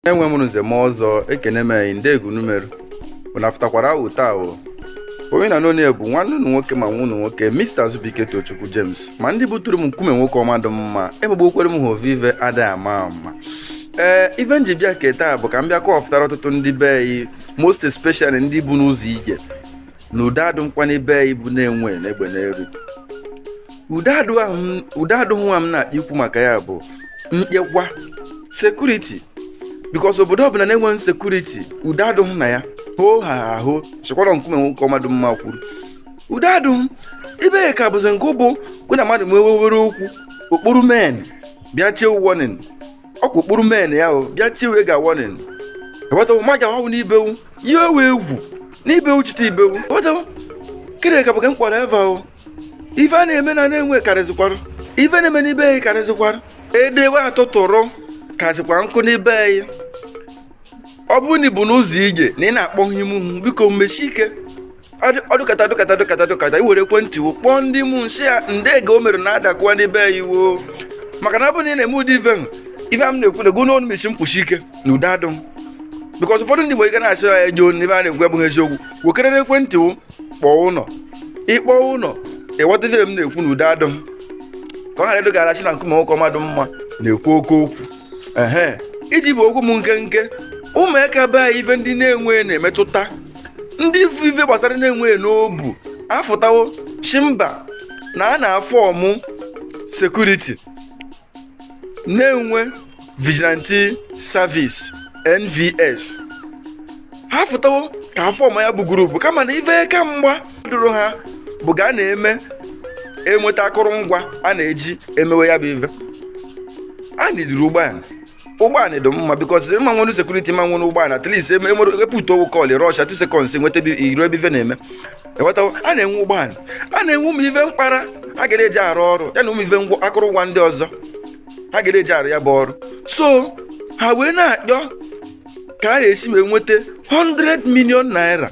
enwe m nze ma ọzọ ekene m anyị ndị egunumeru unu afụtakwara ahụ taa o onye na n'onye bụ nwanne unu nwoke ma nwa unu nwoke Mr. Azubike Tochukwu James ma ndị buturu m nkume nwoke ọma dị mma emegbokwere m ha ovive adịghị ama ama ee ife nji bịa nke taa bụ ka m bịa kọfụtara ọtụtụ ndị be anyị most especially ndị bu n'ụzọ ije na udo adụghịkwa n'ibe anyị bụ Nenwe n'egbe n'elu udo adụghị m- udo adụghị nwa m na-ekwu maka ya bụ nchekwa security because obodo ọbụla na-enweghị security udo adụghị na ya hoo ha a sịkwara nkume nwoke ọma dụ mma kwuru udo adụghị ibe ka bụzi nke bụkwa na mmadụ nwewewere okwu ọ kpọrọ men bịa chee warning ọ kpọrọ men ya o bịa tiwe ga warning ewetawo ma ga ọnwụ n'ibewu ihe ewu egwu n'ibewu chite ibewu ewetawo kere ka bụga mkpọrọ eva o ife a na-eme na Nenwe karịzịkwara ife na-eme n'ibe anyị karịzịkwara edewe atụtụrụkazikwa nkụ n'ibe anyị ọ bụrụ na i bu n'ụzọ ije na ị na-akpọ home biko mesi ike ọ dụkata dụkata dụkata dụkata i were ekwentị wo kpọọ ndị mụ nsị ya ndee ga o mere na-adakwa ndị be ya iwo maka na ọ bụrụ na ị na-eme ụdị ife ahụ ife m na-ekwu na ego n'ọnụ mesi m kwusi ike na udo adụghị because ụfọdụ ndị nwere ike na-asị ya ejo n'ebe a na-ekwu abụghị eziokwu wekerere ekwentị wo kpọọ ụlọ ị kpọọ ụlọ ị ghọta ife m na-ekwu na udo adụghị ka ọ ghara ịdụ ga a sị na nkume nwoke ọma dụ mma na-ekwu oke okwu ehe iji gbu okwu m nkenke ụmụaka be anyị ife ndị Nenwe na-emetụta ndị ifu ife gbasara Nenwe dị n'obu afụtawo shị mba na a na-aform security Nenwe Vigilante Service NVS ha fụtawo ka a form ya bụ group kama na ife aka mgba dụrụ ha bụ ga a na-eme enweta akụrụngwa a na-eji emewe ya bụ ife a needuru ụgbọala ụgbọala dị mma because ma nwere security ma nwere ụgbọala at least epụta owu call rusha two seconds nweta iru ebe ife na-eme ewetawo a na-enwe ụgbọala a na-enwe ụmụ ife mkpara a gara eji arụ ọrụ ya na ụmụ ife ngwa akụrụngwa ndị ọzọ a gara eji arụ ya bụ ọrụ so ha wee na-achọ ka a ga-esi wee nweta 100 million naira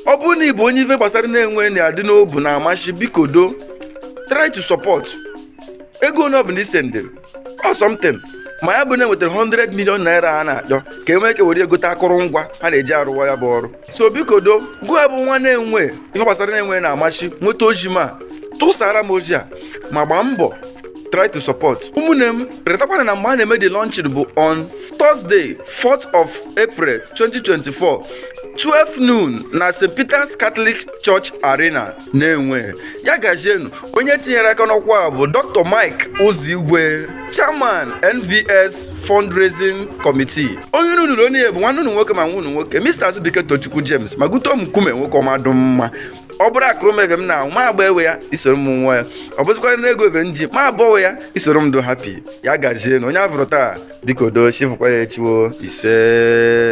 ọ bụrụ na ị bụ onye ife gbasara Nenwe na-adị n'obu na-amashi biko do try to support ego onye ọbụla i sendịrị ọ something ma ya bụ na enwetara 100 million naira ha na-achọ ka e nwee ike were ya gote akụrụngwa ha na-eji arụwa ya bụ ọrụ so biko do gụwa bụ nwa Nenwe ife gbasara Nenwe na-amashi nweta ozi m a tụsara m ozi a ma gbaa mbọ try to support ụmụnne m retakwa na mgbe a na-eme the launching bụ on Thursday 4th of April 2024 12 noon na St. Peter's Catholic Church Arena na-enwe ya gazienu onye tinyere aka n'ọkwa a bụ dr mike ụzọigwe chairman nvs fundraising committee onye unu nụrụ onu ya bụ nwanne unu nwoke ma nwa unu nwoke mr azubike tochukwu james ma gute omukume nwoke ọma dụ mma ọ bụrụ akụrụ m ive m na-aṅụ ma agba ewe ya i soro m ṅụa ya ọ bụzịkwara na ego ebe m ji ma abụọ ya i soro m dụ happy ya gazienu onye a vụrụ taa biko doo chi fụkwa ya echi o ise